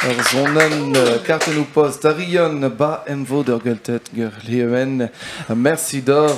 Ur zonenn euh, kartennoù post a rion ba emvod ur gelted ger Mersi d'or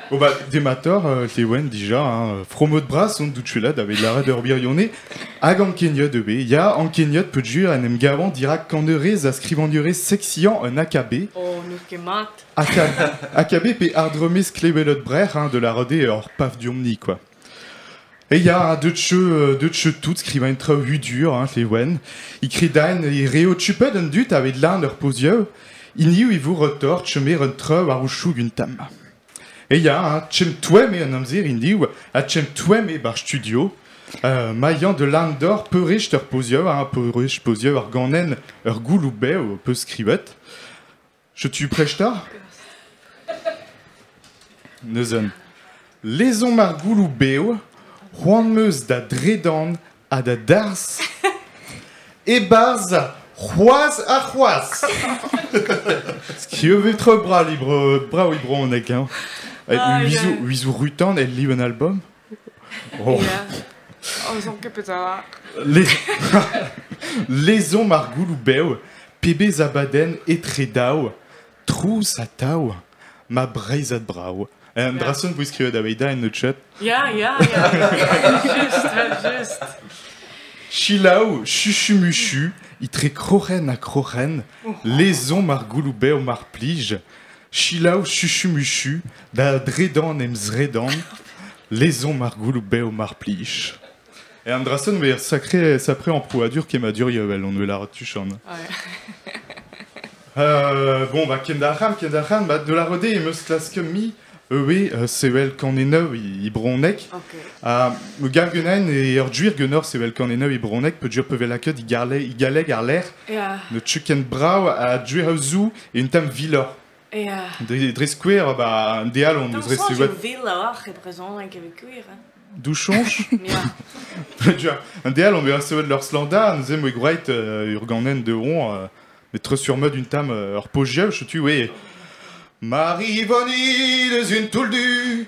Bon bah dematoc'h euh, te ouen dija hein, fromot bras on doutchula da bet lâret ur birionez hag en keniot e be ya en keniot peu jur en em gavan dirak kanerez a skrivagnerez sexian un akabé Oh, n'out ket mat. Aka- akabé pe ardromez klebelot brec'h hein, de la rode ur paf diomni quoi. Eh ya, deut 'cheu deut 'cheu tout skrivañ traoù hudur hañv eo wenn. E kredaen e reot chupet an dud aveit lan ur pozioù, hiniv e vo retort chomet un traoù war o choug un tamm. Eh ya, chemm-toemm eo an amzer hiniv ha chemm-toemm eo ba'r studio. Euh, mailhañ da lan doc'h peurrest ur pozioù ha peurrest pozioù ar ganenn ur gouloù bev ho peus skrivet. Setu prest ta ? Neuzen, lezomp ar gouloù bev, c'hoant 'm eus da dredan ha da darzh e-barzh c'hoazh ha c'hoazh. Skieuvet-tre brav e brezhoneg. Hein. Ah, Uizou, Uizou Rutan, el liv an album Ozon ket petra. Lezomp ar gouloù bev, pebezh abadenn etre daou, trouz ha tav, ma breizhad brav. Eh, Un dra sonn 'vo skrivet aveit da en chat. Ya, ya, ya. Just, just. Chilaou, chuchu-muchu, itre kroc'hen ha kroc'hen, lezomp ar gouloù bev mar plij, Selaou chuchu-muchu da dredan em zredan, lezomp ar goulou-bev mar plij. E an dra-sen eo sacré, sacré amprouadur kemmadurioù evel hon lâret tuchon. Euh, bon, bah, kendac'han, kendac'han, bah, de la rode em eus klasket-mi eue euh, sevel kanenev e bronek. Ok. Ha me gav genaen e ur duir genor sevel kanenev e bronek, pe duir pe velaket e garle- e galleg ar lec'h. Ya. Ne tu ken brav a duir euzou un tamm viloc'h. Yeah. Dre, dre skouer, bah, un deal on eus recevet... viloc'h e brezhoneg evit gwir. Hein. Douchonch Un deal on eus recevet leur slanda, nous aimons gwreit euh, urganen de ron, euh, mais très sur mode une tame euh, ur pogieu, je tu, oui. Marie-Vonnie, les une touldu,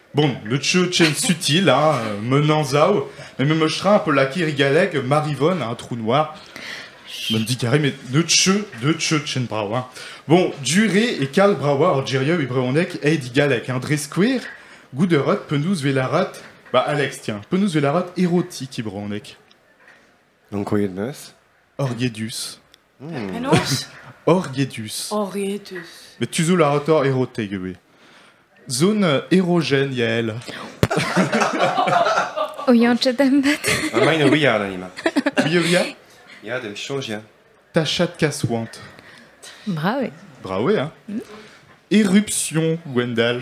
Bon, me teu chen sutil, hein, un anzav, met me tra un peu lakaet e galleg Marivonne, un trou noir. M'en dit carré, mais ne teu, ne teu chen bravo. Hein. Bon, duré e kal bravo ar geria e brehoneg ei di galleg, hein, dre skouer, goût de rot penaos velarat, ba Alex, tiens, penaos velarat erotik e brehoneg. Donc, voyez de meus Orgedus. Penaos ? Orgetus. Orgetus. Met tuzhout a ra toc'h Erotek ivez. Zon erogen Yael. O yañchet em bet. Emaint o ouiañ da mat. Ouiañ Ya, da soñj ya. Tachad kaswant. Bravo. Bravo, hein Éruption Gwendal.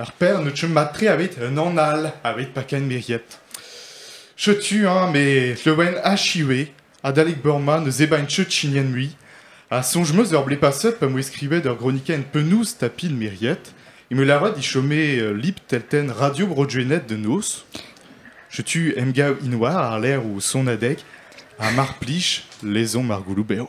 Ur pern o chom mat-tre aveit un ann all aveit pakenn miriet. Setu eñ me Lleuwen achiwe adalek beurma ne zebaint chet chignenn mui, ha soñj 'm eus ur blez paset pa 'm boa skrivet ur gronikenn penaos tapil miriet, eo me lavaret e chome ul lib teltenn Radio Bro Gwened da noz. Setu emgav int oa àr-lerc'h o sonadeg ha mar plij, lezomp ar gouloù bev.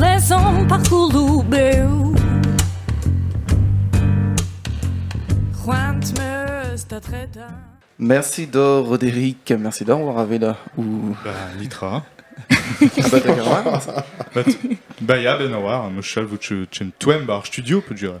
Lezomp ar c'houloù bev. C'hoant meus da tredañ. Merci do Roderic, merci d'avoir avait là. Ou... Bah, nitra. Bah, ya, ben oar, mechal, vous tu, tu me tuem bar studio, peut dire.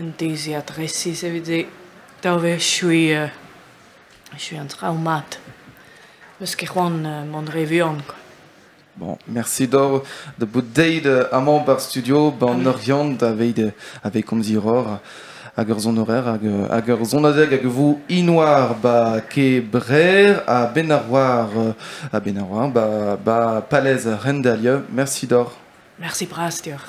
Un deiziad resis evit daou wech echuiñ echuiñ an traoù mat. 'Meus ket c'hoant mont re vuan kwa. Bon, merci doc'h da bout deuet amañ ba'r studio 'ba an Oriant daveit aveit komziñ roc'h hag ur sonorer hag ur sonadeg hag vo inoar 'ba Kebrer ha benn ar war ha benn ar war 'ba 'ba Palez Rendalieu. Merci doc'h. Mersi bras deoc'h.